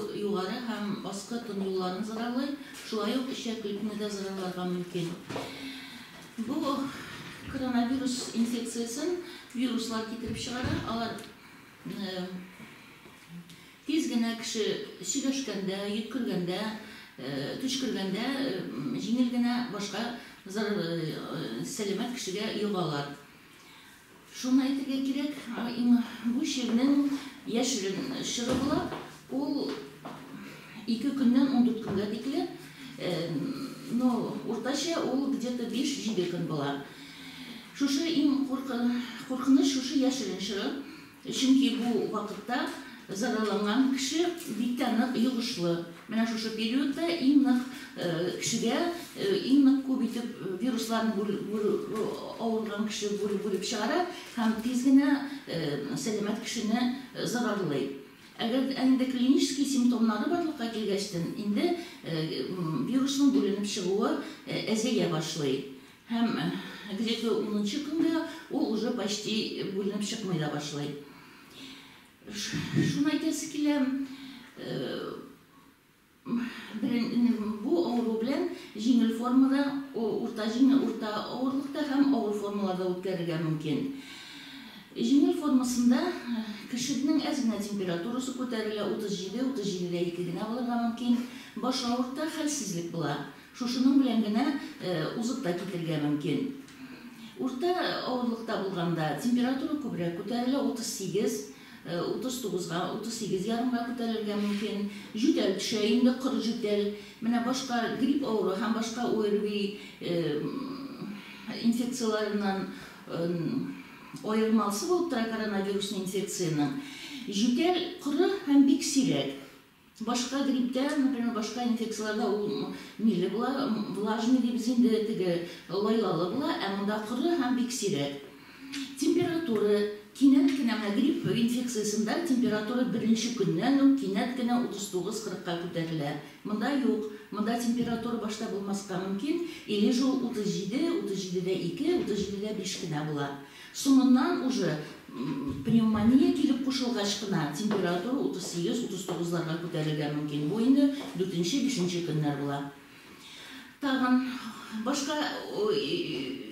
Югары һәм аскы тон юлларын зыралый, шулай ук эчәк ритмны да зыраларга мөмкин. Бу коронавирус инфекциясен вируслар китереп чыгара, алар тиз генә кеше сөйләшкәндә, йөткергәндә, төчкергәндә җиңел генә башка сәламәт кешегә йогалар. Шуны әйтергә кирәк, бу чирнең яшерен чыры була, ул ике көннән ундүрт көнгә тикле, но уртача ул где-то биш-җиде көн була. Шушы иң куркыныч шушы яшерен чыры. Чөнки бу вакытта зарарланган кеше бик тә нык йогышлы. Менә шушы периодта иң нык кешегә иң нык күп итеп вирусларны авырган кеше бүлеп чыгара һәм тиз генә сәламәт кешене зарарлый. Әгәр дә инде клинический симптомнары барлыкка килгәчтен, инде вирусның бүленеп чыгуы әзәя башлый. Һәм гриппы унынчы көнгә ул уже почти бүленеп чыкмый да башлый. Шуны әйтәсе килә, бу авыру белән җиңел формада, урта җиңел, урта авырлыкта һәм авыр формаларда үткәрергә мөмкин. Җиңел формасында кешенең әз генә температурасы күтәрелә, 37, 37 дә ике генә булырга мөмкин, баш авырта, хәлсезлек була. Шушының белән генә узып та китергә мөмкин. Урта авырлыкта булганда температура күбрәк күтәрелә, 38, 39-га, 38 ярымга күтәрелергә мөмкин. Җүтәл төшә инде, коры җүтәл. Менә башка грипп авыру һәм башка ОРВИ инфекцияләреннән аермалысы булып тора коронавирусный инфекциянең, җүтәл коры һәм бик сирәк. Башка грипптә, например, башка инфекцияләрдә ул миле була, влажный дибез инде, теге лайлалы була, ә монда коры һәм бик сирәк. Температура, кинәт кенә, менә грипп инфекциясендә температура беренче көннән үк кинәт кенә 39-40ка күтәрелә. Монда юк, монда температура башта булмаска мөмкин, или же ул 37, 37 дә 2, 37 дә 5 кенә була. Соңыннан уже пневмония килеп кушылгач кына температура 38-39 ларга күтәрелергә мөмкин. Бу инде дүртенче, бишенче көннәр була. Тагын башка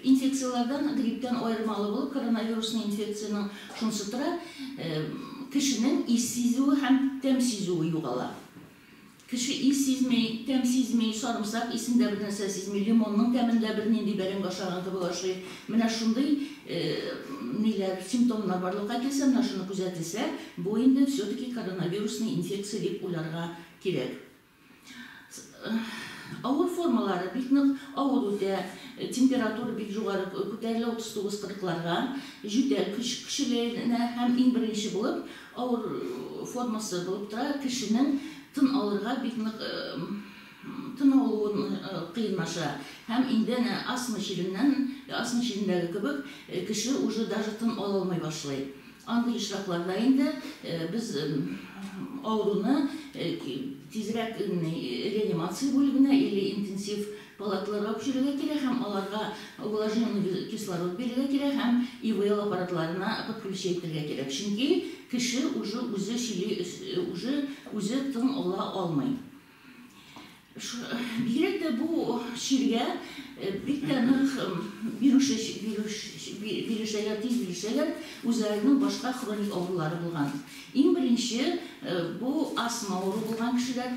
инфекцияләрдән, грипптан аермалы булып, коронавирусный инфекциянең шунысы тора, кешенең ис сизүе һәм тәм сизүе югала. Кеше ис сизми, тәм сизми, сарымсак исен дә бернәрсә сизми, лимонның тәмен дә бернинди бәрәңге ашаган кебек ашый. Менә шундый ниләр, симптомнар барлыкка килсә, менә шуны күзәтелсә, бу инде все-таки коронавирусный инфекция дип уйларга кирәк. Авыр формалары бик нык авыр үтә, температура бик югары күтәрелә, 39-40 ларга, җүтәл көч көчеләенә һәм иң беренче булып Авыр формасы булып тора, кешенең тын алырга бик нык тын алуын кыенлаша һәм инде әнә астма чиреннән, астма чирендәге кебек, кеше уже даже тын ала алмый башлый. Андый очракларда инде без авыруны тизрәк реанимация бүлегенә или интенсив Палатларга күчерергә кирәк һәм аларга вложенный кислород бирергә кирәк һәм ИВЛ аппаратларына подключи итергә кирәк, чөнки кеше уже үзе чили, уже үзе тын ала алмый. Бигрәк тә бу чиргә бик тә нык бирешә, бирешәләр, тиз бирешәләр үзләренең башка хроник авырулары булган. Иң беренче бу астма авыру булган кешеләр.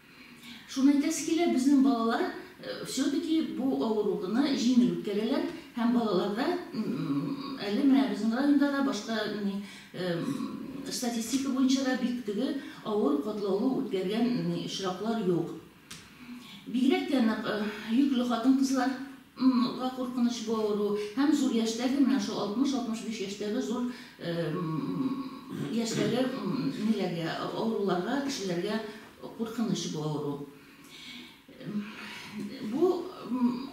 Шуны әйтәсе килә, безнең балалар все-таки бу авыруны җиңел үткәрәләр һәм балаларда әле менә безнең районда да, башка статистика буенча да бик теге авыр катлаулы үткәргән очраклар юк. Бигрәк тә нык йөкле хатын-кызлар. М га куркыныч бу авыру һәм зур яшьтәге, менә шул 60-65 яшьтәге зур яшьтәге ниләргә, авыруларга, кешеләргә куркыныч бу авыру. Бу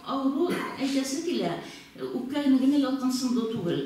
авыру әйтәсе килә, үпкә генә ялкынсынды түгел.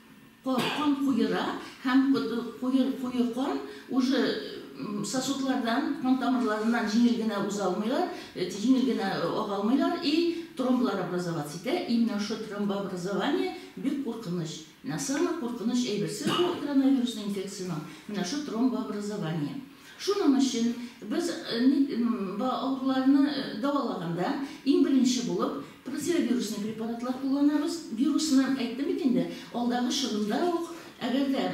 Кан куера һәм куе кан уже сосудлардан, кан тамырларыннан җиңел генә уза алмыйлар, җиңел генә ага алмыйлар и тромблар образоваться итә, и менә шул тромбообразование бик куркыныч. Менә самый куркыныч әйберсе бу коронавирусный инфекциянең, менә шул тромбообразование. Шуның өчен без ник ба авыруларны дәвалаганда иң беренче булып противовирусный препаратлар кулланабыз. Вирусны әйттем бит инде, алдагы чорында ук, әгәр дә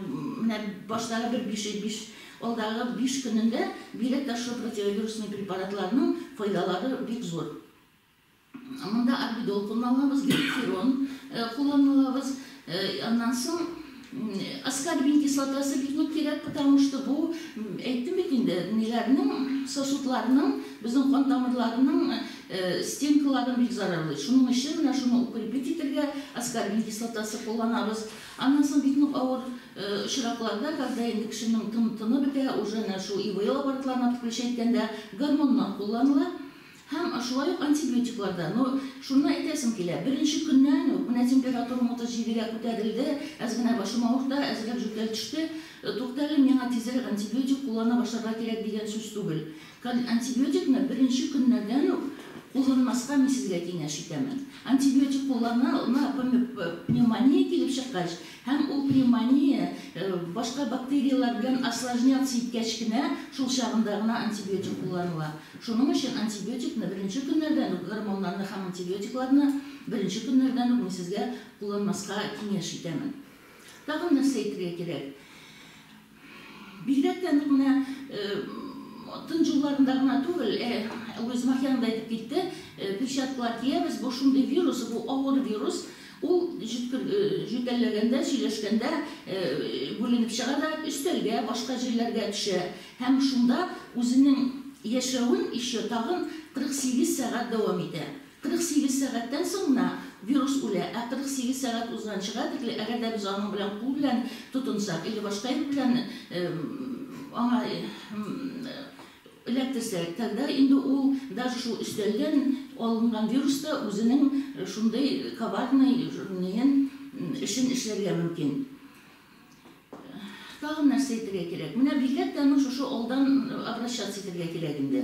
менә баштагы бер биш ел биш, алдагы биш көнендә бигрәк тә шул противовирусный препаратларның файдалары бик зур. Монда альбедол кулланабыз, гипертирон кулланабыз. Аннан соң аскорбин кислотасы бик нык кирәк, потому что бу, әйттем бит инде, ниләрнең, сосудларның, безнең кан тамырларының стенкаларын бик зарарлый. Шуның өчен менә шуны укрепить итергә аскорбин кислотасы кулланабыз. Аннан соң бик нык авыр очракларда, когда инде кешенең тыны бетә, уже менә шул ИВЛ аппаратларын отключать иткәндә гормоннар кулланыла. Һәм шулай ук антибиотиклар да. Ну, шунны әйтәсем килә, беренче көннән үк менә температурам 37 гә күтәрелде, әз генә башым авырта, әзрәк җүтәл төште. Туктале, миңа тизрәк антибиотик куллана башларга кирәк дигән сүз түгел. Антибиотикны беренче көннәрдән үк кулланмаска мин сезгә киңәш итәмен. Антибиотик куллана, пневмония килеп чыккач, Һәм ул пневмония башка бактерияләр белән осложняться иткәч кенә, шул чагында гына антибиотик кулланыла. Шуның өчен антибиотикны беренче көннәрдән үк, гормоннарны һәм антибиотикларны беренче көннәрдән үк мин сезгә кулланмаска киңәш итәмен. Тагын нәрсә әйтергә кирәк? Бигрәк тә нык менә тын җылларында гына түгел, ә Гөлүзем Ахианың да әйтеп китте, перчаткалар киябез, бу шундый вирус, бу авыр вирус, ул җөтәлләгәндә, сөйләшкәндә бүленеп чыга да өстәлгә, башка җирләргә төшә һәм шунда үзенең яшәвен еще тагын 48 сәгать дәвам итә. 48 сәгатьтән соң гына вирус үлә, ә 48 сәгать узганчыга тикле, әгәр дә без аның белән кул белән тотынсак или башка ел белән аңа эләктерсәк, тогда инде ул даже шул өстәлдән алынган вирус та үзенең шундый коварный эшен эшләргә мөмкин. Тагын нәрсә әйтергә кирәк? Менә бигрәк тә аның шушы алдан обращаться итәргә кирәк инде.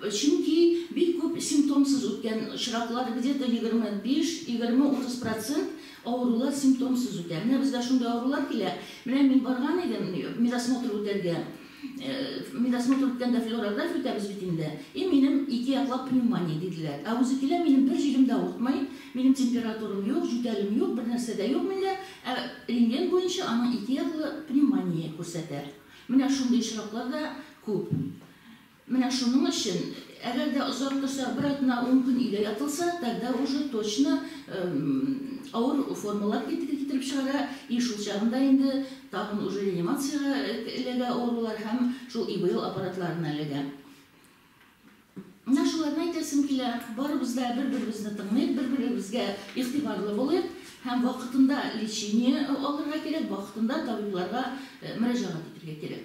Чөнки бик күп симптомсыз үткән очраклар, где-то егерме биш, егерме утыз процент авырулар симптомсыз үтә. Менә безгә шундый авырулар килә. Менә мин барган идем медосмотр үтәргә. Медосмотр үткәндә флюорография үтәбез бит инде. И минем ике яклап пневмония диделәр. Ә үзе килә, минем бер җирем дә авыртмый, минем температурам юк, җүтәлем юк, бернәрсә дә юк миндә, ә рентген буенча аның ике яклы пневмония күрсәтә. Менә шундый очраклар да күп. Менә шуның өчен Әгәр дә озак торса, бер атна-ун көн өйдә ятылса, тогда уже точно авыр формалар китереп чыгара, и шул чагында инде тагын уже реанимациягә эләгә авырулар һәм шул ИВЛ аппаратларына эләгә. Менә шуларны әйтәсем килә, барыбыз да бер-беребезне тыңлыйк, бер-беребезгә игътибарлы булыйк һәм вакытында лечение алырга кирәк, вакытында табибларга мөрәҗәгать итәргә кирәк.